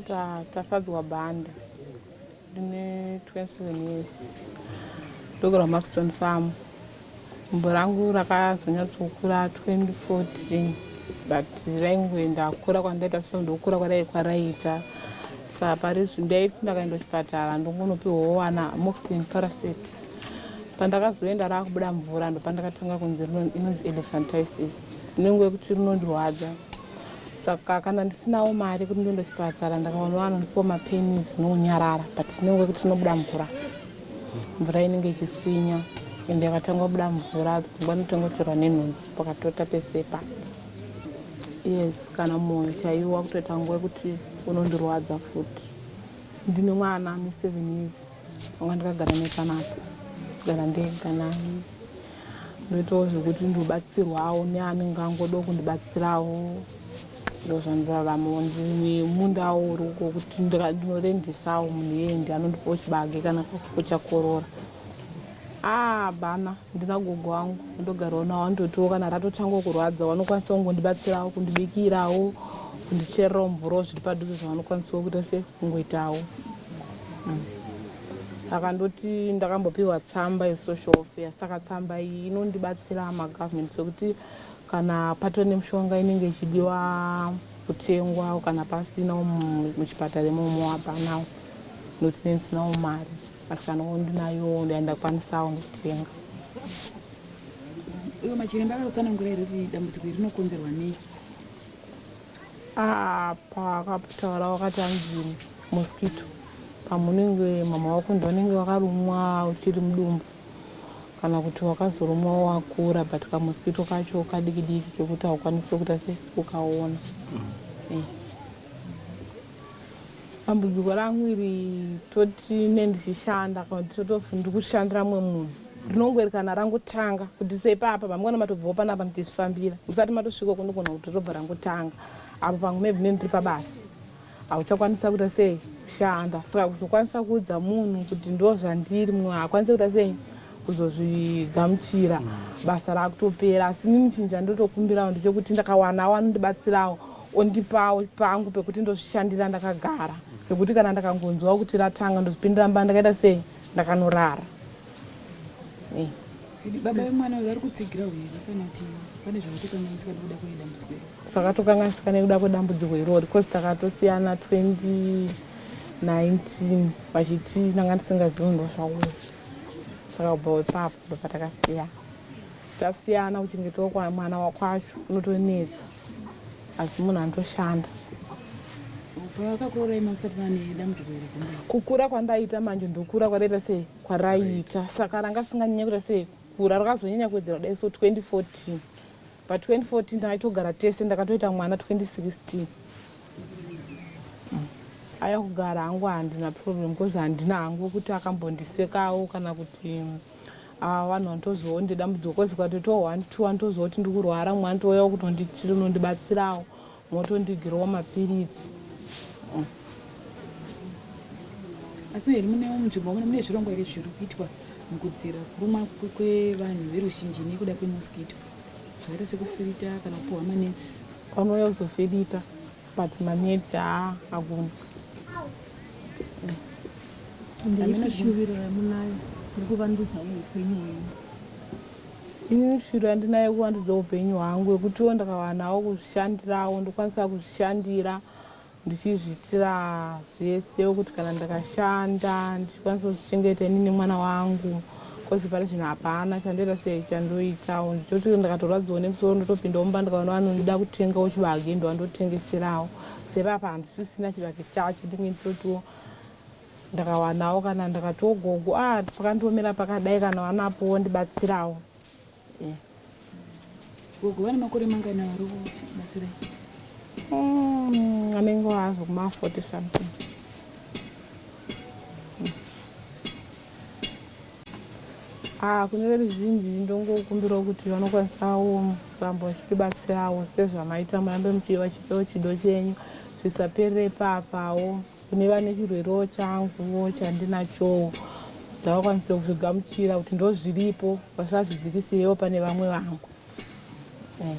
Ndinoita Tafadzwa Banda ndine 27 years ndogara Maxton Farm. Gumbo rangu rakazonyatsokura 2014 but raingoenda kukura kwandaita so ndokura kwadai kwaraiita saka parizvi ndaiti ndakaenda kuchipatara ndongonopiwawo wana moxin paraset pandakazoenda raakubuda mvura ndopandakatanga kunzi inonzi elephantisis inenge yekuti rinondirwadza saka kana ndisinawo mari kuti ndiende kuchipatara ndakaona vanondipa mapenis nounyarara but tinenge wekuti tinobuda mvura mvura inenge ichiswinya ende yakatanga kubuda mvura pfungwa inotanga kutorwa nenhunzi pakatota pesepa yes kana mwoyo chaiwo wakutoita nguva yekuti unondirwadza futi ndine mwana ane seven years Vanga ndakagara nepana apa gara ndega nani ndoitawo zvekuti ndobatsirwawo neanenge angodawo kundibatsirawo ndozvandiraramawo nemundawo uriko kuti ndinorendesawo munhu yendi anondipawo chibage kana kakupo chakorora ah bana ndina gogo wangu ndogarawo nawo andotiwo kana ratotanga kurwadza vanokwanisa kungondibatsirawo kundibikirawo kundichererawo mvurawo zviri padhuze zvavanokwanisa kuita se kungoitawo akandoti ndakambopiwa tsamba yesocial welfare saka tsamba iyi inondibatsira magovernment sekuti kana patove nemishonga inenge ichidiwa kutengwa kana pasina muchipatara imomo hapanawo nokuti nendisinawo mari asi kana ndinayo ndandakwanisawo kutenga iwe machiremba akakutsanangura here kuti dambudziko iri rinokonzerwa nei apa akataura wakati hanzi mosquito pamwe unenge mama wako ndivanenge vakarumwa uchiri mudumbu kana kuti wakazorumwa wakura but kamosquito kacho kadiki diki kekuti haukwanisi kuita se ukaona mm. eh. Dambudziko rangu iri toti ne ndichishanda kana kuti totof ndikushandira mumwe munhu rinongoerekana rangotanga kuti sepapa pamukana matobvawo panapa ndichizvifambira musati matosvika uko ndogona kuti robva rangotanga apo pamwe maybe ne ndiri pabasa hauchakwanisa kuita sei kushanda saka kuzokwanisa kuudza munhu kuti ndo zvandiri mumwe haakwanise kuita sei kuzozvigamuchira basa rakutopera asi nini chinja ndotokumbirawo ndechekuti ndakawana wanondibatsirawo ondipawo pangu pekuti ndozvishandira ndakagara zvekuti kana ndakangonzwa kuti ratanga ndozvipindira mba ndakaita sei ndakanorara eh. baba vemwana uyu vari kutsigira uye kana kuti pane zvakatokanganisika nekuda kwedambudziko iro zvakatokanganisika nekuda kwedambudziko irori bcause takatosiyana 2019 vachiti ndanga ndisingazivi ndozvauya saka ubva wepapo ndopatakasiyana Tasiyana kuchengetwa kwa mwana wakwacho kunotonetsa asi munhu anotoshanda. Pavakakurorai mamusati mane dambudziko iri kumba. Kukura kwandaita manje ndokura kwadaita se kwaraiita saka ranga risinganyanya kuita se kura rakazonyanya kuwedzera kudai so 2014 but 2014 takaitogara tese ndakatoita mwana 2016 aya kugara hangu handina problem coz handina hangu kuti akambondisekawo kana kuti Haa vanhu vanotozivawo ndine dambudziko coz kwatoitawo one two anotoziva kuti ndiri kurwara mumwe anotouyawo kunondibatsirawo motondigirawo mapiritsi asi here munewo munzvimbo muno mune zvirongwa here zviri kuitwa mukudzira kurumwa kwevanhu veruzhinji nekuda kwemosquito zvakaita sekufirita kana kupuhwa manetsi vanouya kuzofirita But manetsi haa agoni. Ndeipi shuviro yamunayo yekuvandudza upenyu hwenyu? Ini shuviro yandinayo yekuvandudza upenyu hwangu yekutiwo ndakawanawo kuzvishandirawo ndokwanisa kuzvishandira ndichizviitira zvese kuti kana ndakashanda ndichikwanisa kuzvichengeta ini nemwana wangu. Coz pari zvino hapana chandoita sei chandoitawo ndichoti ndakatorwadziwa nemusoro ndotopindawo mumba ndikaona vanoda kutengawo chibage ndovandotengeserawo save apa handisisina chibage chacho ndinge nditotiwo ndakawanawo kana ndakatiwo gogo ah pakandiomera pakadai kana vanapo vondibatsirawo Gogo vane makore mangani vari kubatsirai? Mm, anenge wazo kuma 40 something. Mm. Ah, kune veruzhinji ndongokumbirawo kuti vanokwanisawo kuramba vachibatsirawo sezvamaita murambe muchiva chipewo chido chenyu zvisaperere papawo Kune vane chirwerewo changuwo chandinachowo ndakakwanisa kuzvigamuchira kuti ndozviripo vasazvidzikisirewo pane vamwe vangu. Eh,